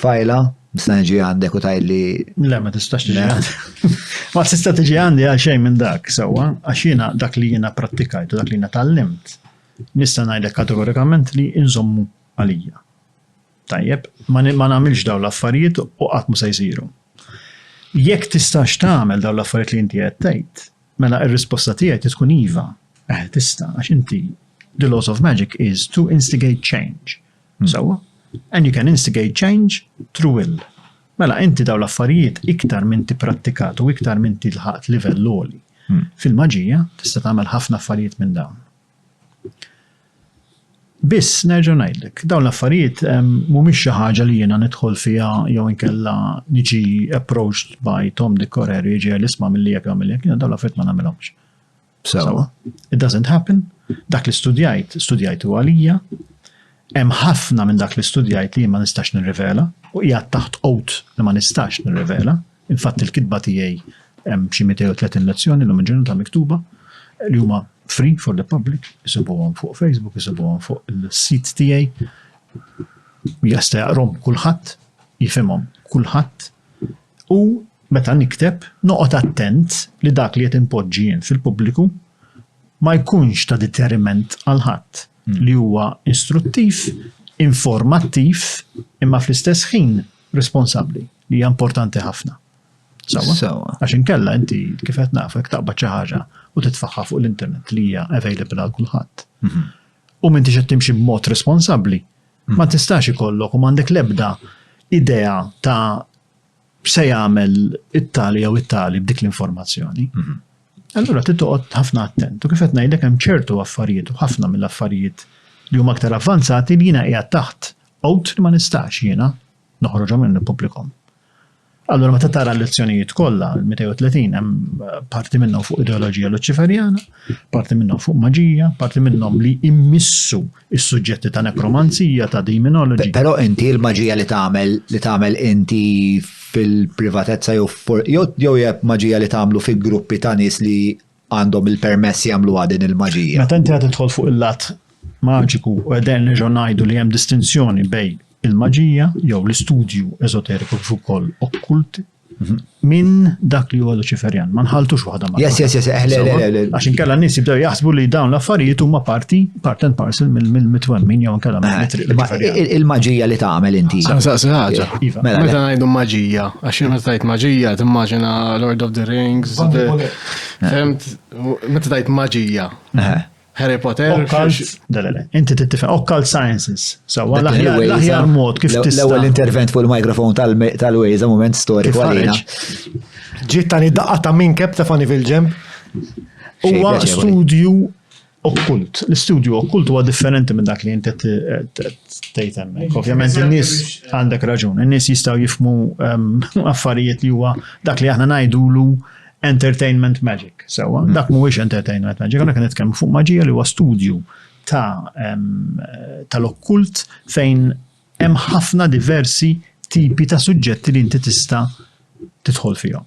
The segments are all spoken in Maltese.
Tfajla, nista' niġi għandek u tgħidli. Le, ma tistax tiġi għandi. Ma tista' tiġi għandi għal xejn minn dak, sewwa, għax jiena dak li jiena pprattikajt u dak li jiena tgħallimt, nista' ngħidlek kategorikament li nżommu għalija. Tajjeb, ma nagħmilx dawn l-affarijiet u qatt mhu se jsiru. Jekk tistax tagħmel dawn l-affarijiet li inti qed tgħid, mela r-risposta tiegħi trid tkun iva, eħe tista' għax inti the laws of magic is to instigate change, Sewwa. And you can instigate change through will. Mela, inti daw l-affarijiet iktar minn tipprattikat u iktar minn tilħaqt livell għoli. Hmm. Fil-maġija tista' tagħmel ħafna affarijiet minn dawn. Biss nerġa' ngħidlek, dawn l-affarijiet mhumiex xi ħaġa li jiena nidħol fiha jew inkella niġi approached by Tom Dick Correr jiġi l-isma' milli jekk għamil jekk, dawn l-affarijiet ma nagħmilhomx. Sewa. It doesn't happen. Dak li studjajt, studjajtu għalija. Hemm ħafna minn dak li studjajt li ma nistax nirrivela u hija taħt qot li ma nistax nirrivela. Infatt il-kitba tiegħi hemm xi 230 lezzjoni l ġurnata miktuba li huma free for the public, isibuhom fuq Facebook, isibuhom fuq il-sit tiegħi. Jasta jaqrom kulħadd, jifhimhom kulħadd U meta nikteb, noqgħod attent li dak li qed inpoġġi jien fil-pubbliku ma jkunx ta' deteriment għal ħadd, li huwa istruttiv, informattiv imma fl-istess ħin responsabbli, li hija importanti ħafna. Sewwa? Sewwa. Għax inkella inti kif qed naf jekk taqbad xi ħaġa u titfaħħa fuq l-internet li hija available għal kulħadd. Mhm. U m'intix qed timxi b'mod responsabbli, Ma tistax ikollok u m'għandek l-ebda idea ta' se jagħmel it-tali jew it-tali b'dik l-informazzjoni. Mhm. Allura trid toqgħod ħafna attent. U kif qed ngħidlek hemm ċertu affarijiet u ħafna mill-affarijiet li huma aktar avvanzati li jiena qiegħed taħt qod li ma nistax jiena noħroġhom minn pubblikom. Allura meta tara l-lezzjonijiet kollha, l-230 hemm parti minnhom fuq ideoloġija Luċiferjana, parti minnhom fuq maġija, parti minnhom li immissu is-suġġetti ta' nekromanzija, ta' demonology. Però inti l-maġija li tagħmel li tagħmel inti fil-privatezza jew jew hija maġija li tagħmlu fi gruppi ta' nies li għandhom il-permess jagħmluha din il-maġija. Meta inti qed tidħol fuq il-lat maġiku u qegħdin nerġgħu ngħidu li hemm distinzjoni bejn il-maġija jew l-istudju eżoteriku kif ukoll okkulti mhm. minn dak li huwa Luċiferjan. Ma nħaltux waħda ma. Yes, yes, yes, eħle, eh, eħle, Għax inkella n-nies jibdew jaħsbu li dawn l-affarijiet huma parti, part and parcel mill-mitwemmin jew inkella eh, Il-maġija li tagħmel inti. Saqsi ħaġa. Eh, iva. Mela, meta ngħidu maġija, għax meta tgħid maġija timmaġina Lord of the Rings, Femt, meta tajt maġija. Harry Potter. Inti tittifem, occult sciences. So, l-aħjar mod kif tista. L-ewwel intervent fuq il-mikrofon tal-Waze, moment storiku għalina. Ġiet tani daqqa ta' minn kep ta' fani fil-ġemp. Huwa studju okkult. L-istudju okkult huwa differenti minn dak li inti tgħid hemmhekk. Ovvjament in-nies għandek raġun, in-nies jistgħu jifmu ehm, affarijiet li huwa dak li aħna ngħidulu entertainment magic. Sewa, hmm. dak mhuwiex entertainment magic, għandek nitkellmu fuq maġija li huwa studju ta' ehm, tal-okkult fejn hemm ħafna diversi tipi ta' suġġetti li inti tista' tidħol fihom.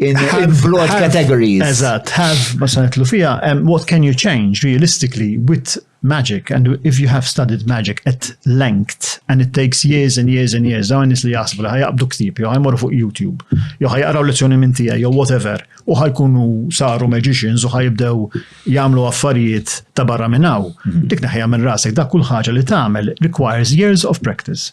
in, in broad have, categories. Eżatt, have ma sanetlu fija, um, what can you change realistically with magic and if you have studied magic at length and it takes years and years and years dawn nis li jasbu li ħajabdu ktib jew ħajmor fuq YouTube jew ħajqraw lezzjoni minn tiegħi jew whatever u ħajkunu saru magicians u ħajibdew jagħmlu affarijiet ta' barra minn hawn. Mhm. Dik naħja minn rasek dak kull ħaġa li tagħmel requires years of practice.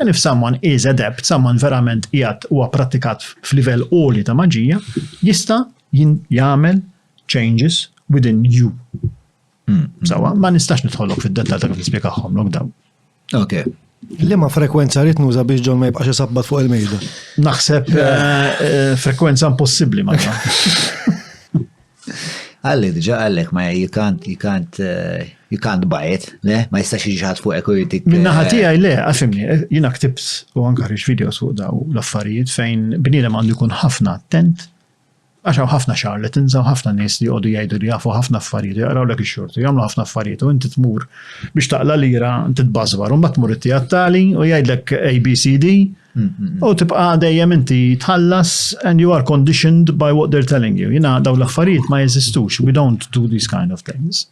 And if someone is adept, someone verament qiegħed huwa prattikat f'livell għoli ta' maġija, jista' jagħmel changes within you. Hmm. Sawa, ma nistax nidħolok fid-dettal ta' kif nispjegahom lok dawn. Okay. Li ma frekwenza rrit nuża biex ġon ma jibqax isabbat fuq il-mejda? Naħseb eh, eh, frekwenza impossibbli ma Għalli, diġa għallek, ma you can't, you can't, eh, you can't buy it, le, ma jistax iġħad fuq eku jitik. Minna eh, ħati għaj, le, għafimni, eh, jina ktibt u għanka ħriġ videos fuq daw l-affarijiet fejn bnidem għandu jkun ħafna attent, għaxaw ħafna xar li tinżaw ħafna nis li għodu jgħidu li jafu ħafna affarijiet, jgħaraw l-ek xorti, jgħamlu ħafna affarijiet u inti tmur biex taqla lira, inti tbazbar, un bat tmur it-tijat tali u jgħidlek ABCD, U tibqa dejjem inti tħallas and you are conditioned by what they're telling you. Jina daw l-affarijiet ma jeżistux, we don't do these kind of things.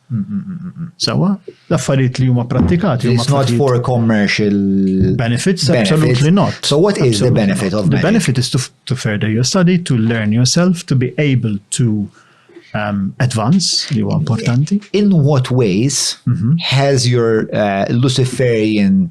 Sawa, l-affarijiet li huma prattikati. It's not for commercial benefits, absolutely not. So what is the benefit of The benefit is to, to further your study, to learn yourself, to be able to um, advance li huwa importanti. In what ways mm -hmm. has your uh, Luciferian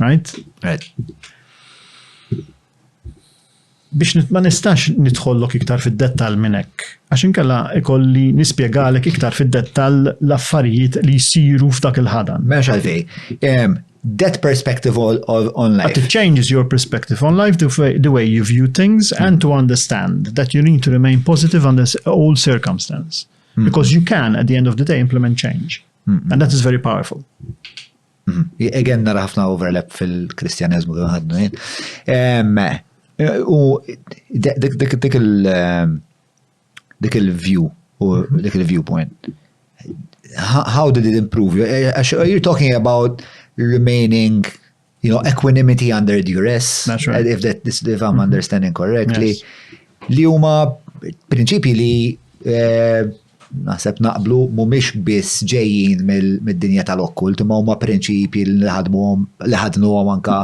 Right? Right. Biex ma nistax nidħollok iktar fid-dettal minn hekk, għax inkella ikolli nispjegalek iktar fid-dettal l-affarijiet li jsiru f'dak il-ħadan. Mex għalfej, that perspective of, of, on life. But it changes your perspective on life, the way, the way you view things, mm. and to understand that you need to remain positive under all circumstances. Mm. Because you can, at the end of the day, implement change. Mm-hmm. And that is very powerful. Mm-hmm. Again, nara ħafna overlap fil-Kristjanizmu kif ħadnu jien. U dik il- ehm, dik il-view u mm-hmm. dik il-viewpoint. How did it improve? You're talking about remaining you know, equanimity under duress, right. if, that, if I'm mm-hmm. understanding correctly, yes. li huma prinċipji li eh, naħseb naqblu mumiex biss ġejjin mill-dinja tal-okkult, ma huma prinċipji li ħadmuhom li ħadnuhom anka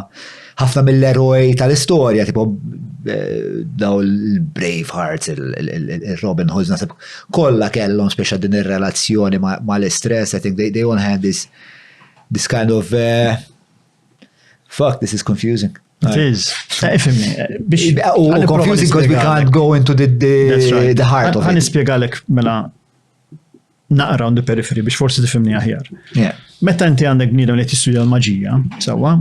ħafna mill-eroj tal-istorja, tipo eh, daw il-Brave Hearts, il-Robin Hoods, naħseb kollha kellhom speċa din ir-relazzjoni ma' l-istress, I think they, they all had this This kind of uh, fuck, this is confusing. It is. Eh, ifimni. Eh, eh, u confusing because we can't go into the, the, the heart of it. Għan ispiegalek mela naqra on the periphery biex forsi tifimni aħjar. Meta inti għandek bniedem li jistudja l-maġija, sawa,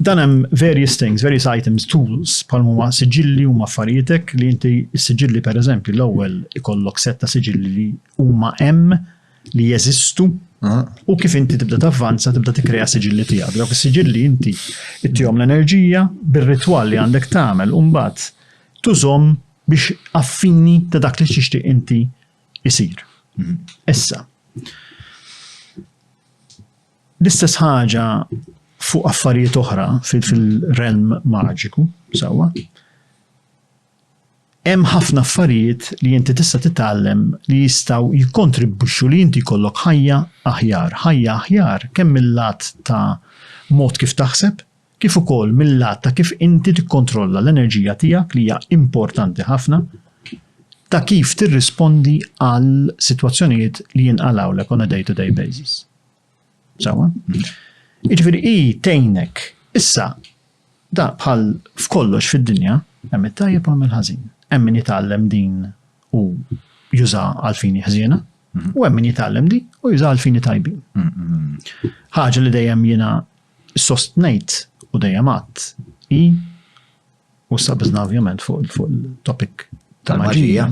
Dan hemm various things, various items, tools, bħal huma siġilli huma affarijietek li inti s-siġilli pereżempju l-ewwel ikollok set ta' siġilli li huma hemm li jeżistu u kif inti tibda tavvanza tibda tikkrea siġilli tiegħek. Dawk is-siġilli inti ittihom l-enerġija bir-ritwal li għandek tagħmel u mbagħad tużhom biex affini ta' dak li tixtieq inti isir. Mhm. Issa, L-istess ħaġa fuq affarijiet oħra fil-realm maġiku, sewwa. Hemm ħafna affarijiet li inti tista' titgħallem li jistgħu jikkontribwixxu li inti jkollok ħajja aħjar, ħajja aħjar kemm mill-lat ta' mod kif taħseb, kif ukoll mil-lat ta' kif inti tikkontrolla l-enerġija tiegħek li hija importanti ħafna, ta' kif tirrispondi għal sitwazzjonijiet li jinqalgħulek on a day-to-day basis. Sawa? Jiġifieri hi tgħinek issa da bħal f'kollox fid-dinja hemm it-tajjeb u hemm il-ħażin. Hemm min jitgħallem din u juża għal fini ħżiena mhm. u hemm min jitgħallem din u juża għal fini tajbin. Mhm. Ħaġa li dejjem jiena Sostnejt u dejjem għadt hi u sabiżna ovvjament fuq il-topic tal-maġija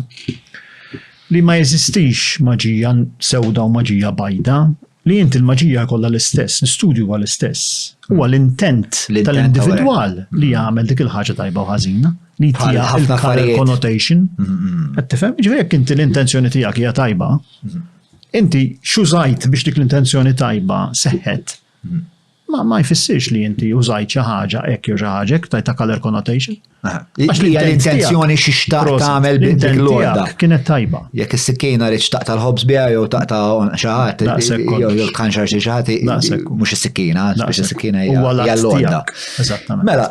li ma jeżistix maġija sewda u maġija bajda li inti l-maġija jkollha l-istess, l-istudju huwa l-istess. Huwa mm. l-intent tal-individwal li jagħmel dik il-ħaġa tajba u ħażina li tija il-color connotation. Qed tifhem? Ġifieri jekk inti l-intenzjoni tiegħek hija tajba, inti xużajt biex dik l-intenzjoni tajba seħħet ma jfissirx li inti użajt xi ħaġa hekk jew xi ħaġa hekk tajta color connotation. Għax li l-intenzjoni xi xtaq tagħmel bidel lorda. Kienet tajba. Jekk is-sikkina rrid xtaq tal-ħobs biha jew taqta' xi ħadd jew tkanxar xi ħadd mhux is-sikkina, biex is-sikkina hija lorda. Eżattament. Mela,